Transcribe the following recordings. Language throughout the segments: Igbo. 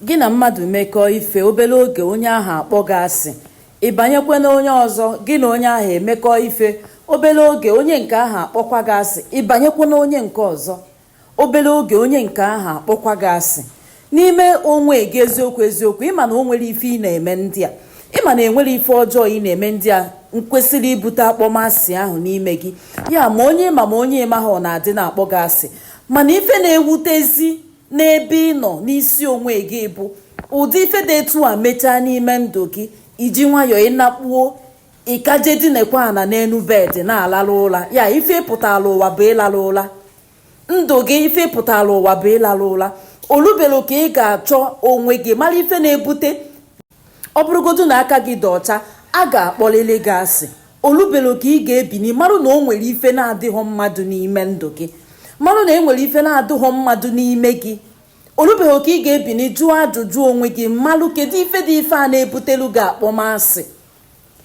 Gị na mmadụ mekọọ ife, obere oge onye ahụ akpọ gị asị, ị banyekwe na onye ọzọ, gị na onye ahụ emekọọ ife, obere oge onye nke ahụ akpọkwa gị asị, ị banyekwe na onye nke ọzọ, obere oge onye nke ahụ akpọkwa gị asị. N'ime onwe gị eziokwu eziokwu, ị ma na o nwere ife ị na-eme ndị a, ị ma na e nwere ife ọjọọ ị na-eme ndị a kwesịrị ibute akpọmasị ahụ n'ime gị. Ya ma onye ị ma ma onye ị maghị ọ na-adị na-akpọ gị asị. Mana ife na-ewutezi n'ebe ị nọ n'isi onwe gị bụ ụdị ife dị etu a mechaa n'ime ndụ gị i ji nwayọọ ị nakpuo ị ka je dinekwa ana n'enu bed na-alarụ ụla ya ife ị pụtara ụwa bụ ịlarụ ụla ndụ gị ife ị pụtara ụwa bụ ịlarụ ụla o lubero oge ị ga-achọ onwe gị mara ife na-ebute Ọ bụrụgodu na aka gị dị ọcha, a ga-akpọlịlị gị asị. O lubero oge ị ga-ebini marụ na o nwere ife na-adịghọ mma dụ n'ime ndụ gị. Marụ na e nwere ife na-adịghọ mma dụ n'ime gị. O lubero oge ị ga-ebini jụọ ajụjụ onwe gị marụ kedụ ife dị ife a na-ebutelu gị akpọmasị.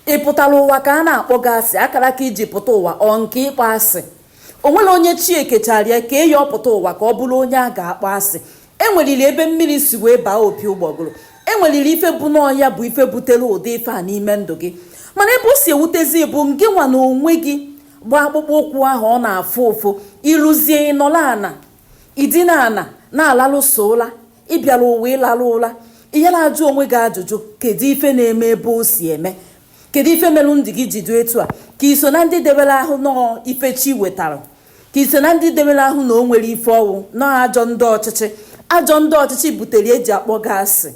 ị pụtara ụwa ka a na-akpọ gị asị akaraka i ji pụta ụwa ọ nke ịkpọ asị o nwere onye chi e kechara ya ka eyi ọ pụta ụwa ka ọ bụrụ onye a ga-akpọ asị e nweriri ebe mmiri si wee baa opi ụgbọgụrụ e nweriri ife bụ na ọ ya bụ ife butere ụdị ife a n'ime ndụ gị mana ebe o si ewutezi bụ ngị nwa na onwe gị gba akpụkpọ ụkwụ ahụ ọ na-afụ ụfụ i ruzie ị nọla ana i dina ana na-alarụ sọ ụla ị bịara ụwa ịlarụ ụla ihe na-ajụ onwe gị ajụjụ kedu ife na-eme ebe o si eme kedu ife melụ ndụ gị ji dị etu a ka i so na ndị debere ahụ na ọ ife chi wetara ka i so na ndị debere ahụ na o nwere ife ọ wụ na ọ ajọ ndị ọchịchị ajọ ndị ọchịchị butere e ji akpọ gị asị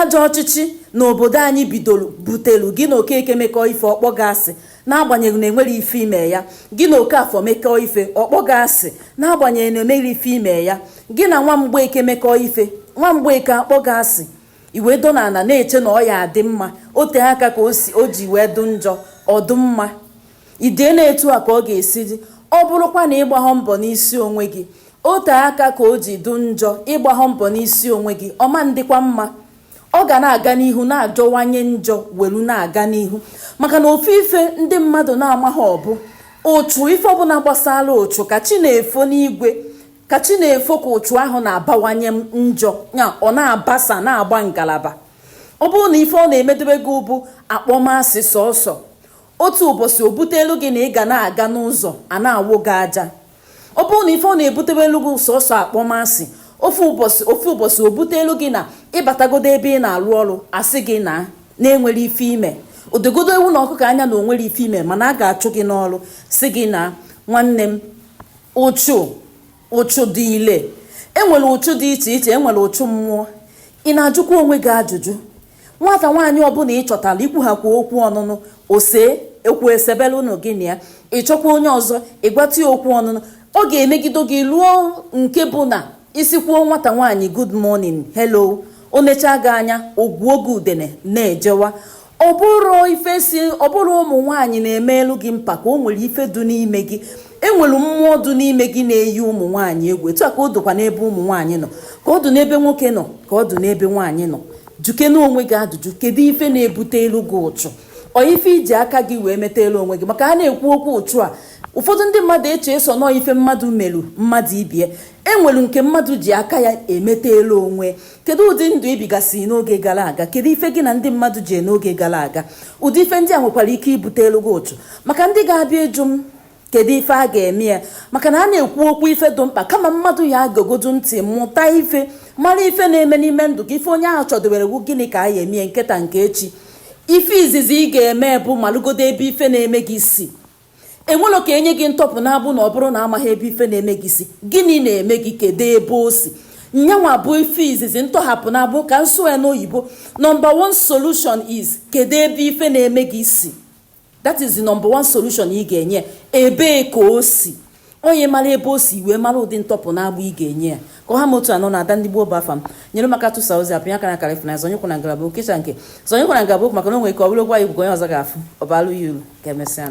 Ajọ ọchịchị na obodo anyị bidoro butelu gị na Okeke mekọọ ife ọ kpọọ gị asị n'agbanyeghị na e nwere ife i me ya. Gị na Okafọ mekọọ ife ọ kpọọ gị asị n'agbanyeghị na e nwere ife i me ya. Gị na nwa Mgbeke mekọọ ife nwa Mgbeke akpọ gị asị i wee do n'ana na-eche na ọ ya-adị mma o tee aka ka o ji wee dụ njọ ọ dụ mma. i dee na etu a ka ọ ga-esi dị ọ bụrụkwa na ị gbaghọ mbọ n'isi onwe gị o tee aka ka o ji dụ njọ ị gbaghọ mbọ n'isi onwe gị ọ ma-adịkwa mma ọ ga na-aga n'ihu na-ajọwanye njọ welu na-aga n'ihu maka na ofu ife ndị mmadụ na-amaghọ bụ ụchụ ife ọbụla gbasara ụchụ ka chi na-efo n'igwe ka chi na-efo ka ụchụ ahụ na-abawanye njọ ya ọ na-abasa na-agba ngalaba ọ bụrụ na ife ọ na-emedebe gị bụ akpọmasị sọsọ otu ụbọchị o butelu gị na ị ga na-aga n'ụzọ a na-awụ gị aja ọ bụrụ na ife ọ na-ebutewelu gị sọsọ akpọmasị ofu ụbọchị o butelu gị na ị batagodo ebe ị na-arụ ọrụ a sị gị na e nwere ife i me o dogodo ewu na ọkụkọ anya na o nwero ife i me mana a ga-achụ gị n'ọrụ sị gị na nwanne m ụchụ dị ile e nwere ụchụ dị iche iche e nwere ụchụ mmụọ ị na-ajụkwa onwe gị ajụjụ nwata nwaanyị ọbụla ị chọtara i kwuhakwa okwu ọnụnụ ose okwu esebere unu gị na ya ị chọkwa onye ọzọ ị gwata ya okwu ọnụnụ ọ ga-emegido gị luo nke bụ na ị sịkwuo nwata nwaanyị good morning hello o nechaa gị anya ọ gụọ gị udene na-ejewa ọ bụrọ ife sị ọ bụrọ ụmụ nwaanyị na-emelu gị mpako o nwere ife dụ n'ime gị e nwere mmụọ dụ n'ime gị na-eyi ụmụ nwaanyị egwu etu a ka ọ dụkwa n'ebe ụmụ nwaanyị nọ ka ọ dụ n'ebe nwoke nọ ka ọ dụ n'ebe nwaanyị nọ jụkene onwe gị ajụjụ kedu ife na-ebutelu gị ụchụ ọ ife i ji aka gị wee metalu onwe gị maka a na-ekwu okwu ụchụ a ụfọdụ ndị mmadụ eche sọ na ọ ife mmadụ meru mmadụ ibe ya e nwelu nke mmadụ ji aka ya emetalu onwe kedu ụdị ndụ i bigasị n'oge gara aga kedu ife gị na ndị mmadụ ji n'oge gara aga ụdị ife ndị a nwekwara ike ibutelu gị ụchụ maka ndị ga-abịa ịjụ m kedu ife a ga-eme ya maka na a na-ekwu okwu ife dị mkpa kama mmadụ ya-egegodu ntị mụta ife mara ife na-eme n'ime ndụ gị ife onye ahụ chọdowere wu gịnị ka a ya-eme ya nke taa nke echi ife izizi ị ga-eme bụ malụgodo ebe ife na-eme gị si e nwero ka e nye gị ntọpụ n'agbụ na ọ bụrụ na amaghị ebe ife na-eme gị si gịnị na-eme gị kedu ebe o si nya nwa bụ ife izizi ntọhapụ n'agbụ ka m sụọ ya n'oyibo number one solution is kedu ebe ife na-eme gị si that is the number one solution ị ga-enye ya ebee ka o si onye mara ebe o si i wee mara ụdị ntọpụ n'agbụ ị ga-enye ya ka ọ ha m otu a nụ na ada ndị gboo bụ afa m nyere m aka tụsaa ozi a pịa aka na akara efu na zọnyekwa na ngalaba okecha nke zọnyekwa na ngalaba okwu maka na o nwere ike ọ bụrụ gwa ya igwe onye ọzọ ga-afụ ọ baalụ ya uru ka emesịa